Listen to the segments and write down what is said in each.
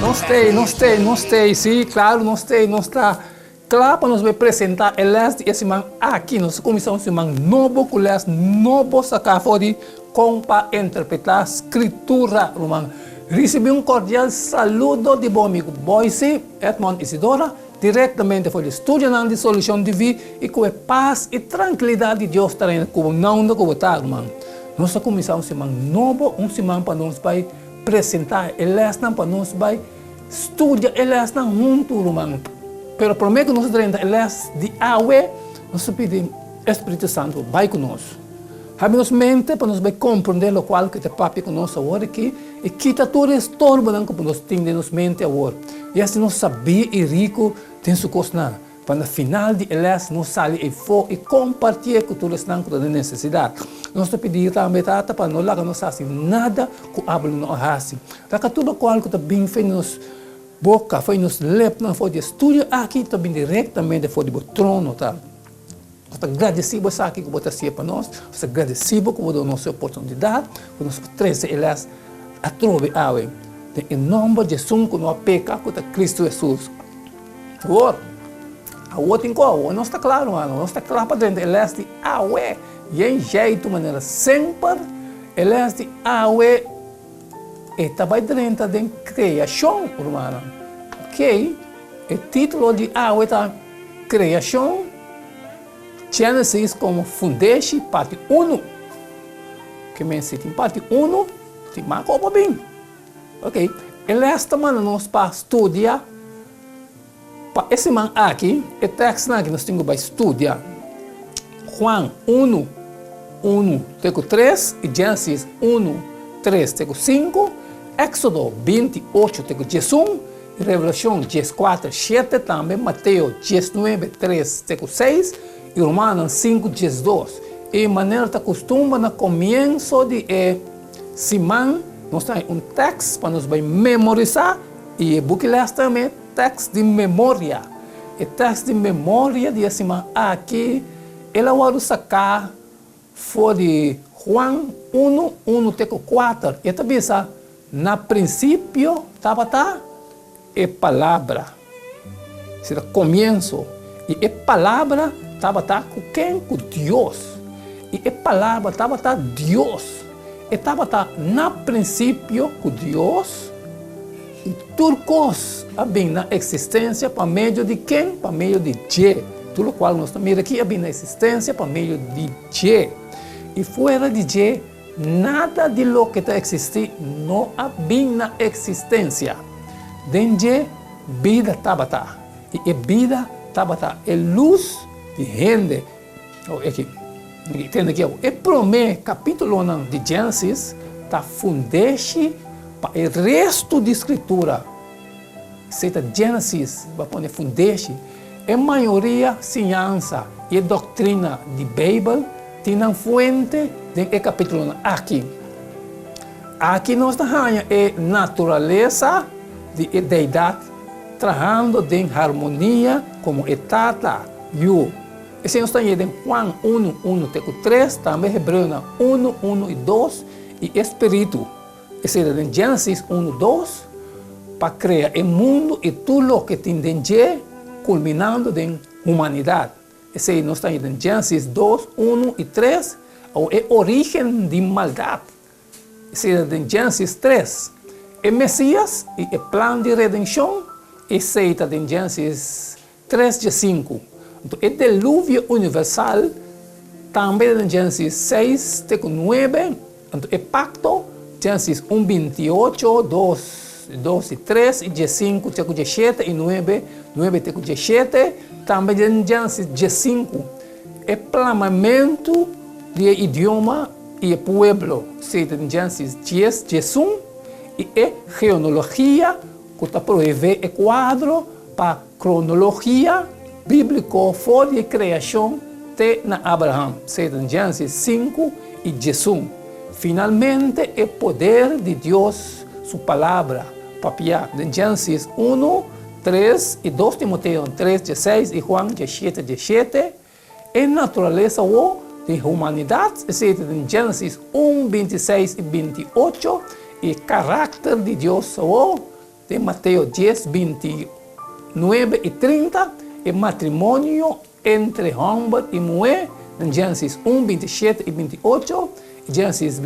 Nos stay, nos stay, nos stay. Sí, claro, nos stay, nos está. Claro, para nos ver presentar el les de ese man aquí. Nos comienza un semana nuevo, con les nuevo saca for de con para interpretar escritura, hermano. Recibe un cordial saludo de bom amigo Boise, Edmond Isidora. Directamente for di studionan di Solucion di Vi y cu e paz y trankilidat di Dios ta reina cu bo nounda cu bo ta ruman. Nos ta cuminsa un siman nobo, un siman pa nos bay presenta e lesnan, pa nos bay studia e lesnan huntu ruman. Pero prome cu nos ta drenta e les di awe, nos ta pidi e Spiritu Santo bay cu nos. Habi nos mente pa nos bai komprondé lokual ku e ta papia ku nos awor aki i kita tur e estorbonan ku por nos tin den nos mente awor. I hasi nos sabí i riku den su kosnan, pa na final di e lès nos sali eifó i kompartié ku tur esnan ku ta den nesesidat. Nos ta pidí tambe, Tata, pa no laga nos hasi nada ku abel no a hasi. Taka tur lokual ku ta bin fo'i nos boka, fo'i nos lepnan, for di e studio aki ta bin direktamente for di bo trono ta. Nos ta gradisí bo esaki ku bo ta hasié pa nos. Nos ta gradisí bo ku bo duna nos e oportunidat ku nos por trese e lès atrobe awe. Den e nòmber di Esun ku no a peka, ku ta Kristu Hesus. Awor, awor tin kòr. Awor nos ta kla, rumannan. Awor nos ta kla pa drenta e lès di awe. Yen jèi tur manera. Semper e lès di awe e ta bai drenta den kreashon, rumannan. Oke, e titulo di awe ta Kreashon. Genesis komo fundeshi parti unu. Ke mester tin parti unu tin maka opo bin. Ok, e lès ta manda nos pa studia, pa e siman aki, e tèksnan ku nos tin ku bai studia, Juan unu, unu te ku tres i Genesis unu, tres te ku sinku, Èksodo binti ocho te ku diesun, Revelashon dies kuater shete tambe Mateo dies nuebe tres te ku seis i Rumannan sinku dies dos i manera ta kustumba na komienso di e siman nos ta hay un teks pa nos bai memorisá i e buki lès tambe teks di memoria e teks di memoria di e siman aki el a wòrdu saká. For di Juan unu, unu te ku kuater, e ta bisa, Na prinsipio tabata e Palabra, sina komienso, i e Palabra tabata ku ken? Ku Dios, i e Palabra tabata Dios. E tabata na prinsipio ku Dios. I tur kos a bin na eksistensia pa medio di ken? Pa medio di Dje. Tur lokual nos ta mira aki a bin na eksistensia pa medio di Dje. I fuera di Dje, nada di loke ta eksistí no a bin na eksistensia. Den Dje bida tabata, i e bida tabata e lus di hende. Oeki, mi ke tende aki awo. E promé kapítulonan di Génesis ta fundeshi pa e restu di Skritura. Esei ta Génesis bo a pone fundeshi. E mayoria siñansa i e doktrina di Beibel tin nan fuente den e kapítulonan aki. Aki nos ta haña e naturalesa di e Deidat trahando den harmonia komo e Tata, Yu. Esei nos ta ye den Juan unu, unu te ku tres, tambe Hebreonan unu, unu i dos, i e Spiritu, esei ta den Genesis unu, dos, pa krea e mundu i tur loke tin den dje, kulminando den humanidat. Esei nos ta ye den Genesis dos, unu i tres, awor e origen di maldat, esei ta den Genesis tres, e Mesias i e plan di redenshon, esei ta den Genesis Tres dje sinku. Nto e deluvio universal, tambe den Génesis seis te ku nuebe, nto e pakto, Génesis un binti i ocho, dos i dos i tres i dje sinku te ku dje shete i nuebe, nuebe te ku dje shete, tambe den Génesis dje sinku, e plamamentu di e idioma i e pueblo, sey den Génesis dies dje sun, i e geonologia ku ta proevé e kuadro Pa kronologia bíbliko for di e kreashon te na Abraham, seta den Génesis sinku i djesun, finalmente e poder di Dios su Palabra papia den Génesis unu, tres i dos Timoteo tres djeseis i Juan djeshete djeshete, E naturalesa wou di humanidat, esei den Génesis un, binti i seis i binti i ocho, i e karakter di Dios wou, den Mateo dies, binti i nuebe i trinta, e matrimonio entre hòmber i muhé, den Génesis un, binti i shete i binti i ocho, i Génesis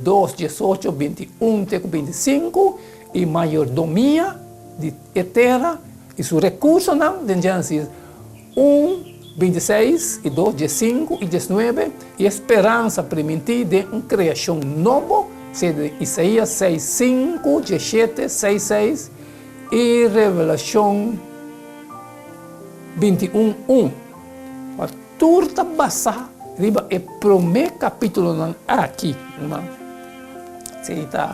dos, diesocho, binti i un te ku binti i sinku, i mayordomia di e tera i su rekursonan, den Génesis. un, binti seis, i dos, dies sinku i dies nuebe, i e speransa primintí den un kreashon nobo, sedu den Isaías seis, sinku, dies shete, seis, seis, i Revelashon binti un, un. Kua tur ta basá riba e promé kapítulonan aki, herman. Esei i ta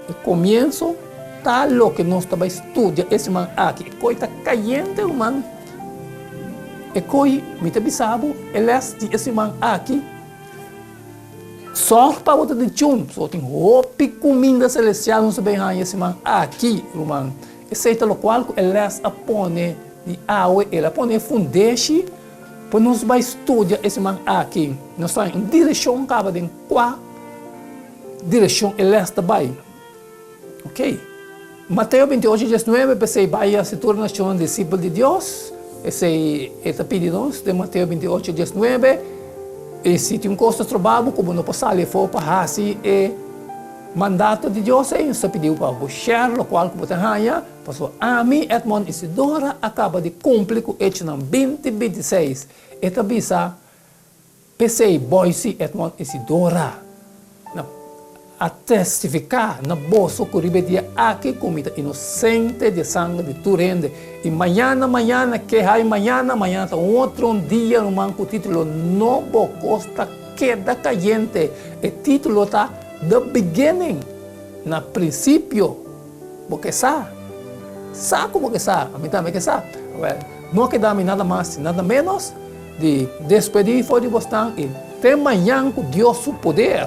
e komienso, ta loke nos ta bai studia e siman aki. E koi ta kayente, ruman. E koi mi ta bisa bo, e les di e siman aki, sòr pa bo ta dichun. So, tin hopi kuminda selestial nos a bin haña e siman aki, ruman. Esei ta lokual ku e les a pone di awe. El a pone e fundeshi pa nos bai studia e siman aki. Nos ta haña un direshon kaba den kua direshon e les ta bai. Ok. Mateo binti'ocho dies nuebe, P'esei bai i hasi tur nashonnan disipel di Dios. Esei E ta pidi nos den Mateo binti'ocho dies nuebe, I si tin un kos ta troba bo ku bo no por sali afó pa hasi e mandato di Dios ei, nos ta pidiu pa bo shèr lokual ku bo ta haña, paso ami, Edmond Isidora, a kaba di kumpli ku echonan binti bintiseis. E ta bisa, P'esei Boysie, Edmond Isidora na a testifiká na boso ku riba e dia aki ku mi ta inosente di e sanger di tur hende i mañana mañana ke hay mañana, mañana ta un otro un dia ruman ku título no bo kos ta keda kayente e título ta the beginning na prinsipio. Bo ke sa? Sa ku bo ke sa? Ami tambe ke sa. Wèl, no keda mi nada mas i nada ménos di despedí for di bosnan i te mañan ku Dios su poder.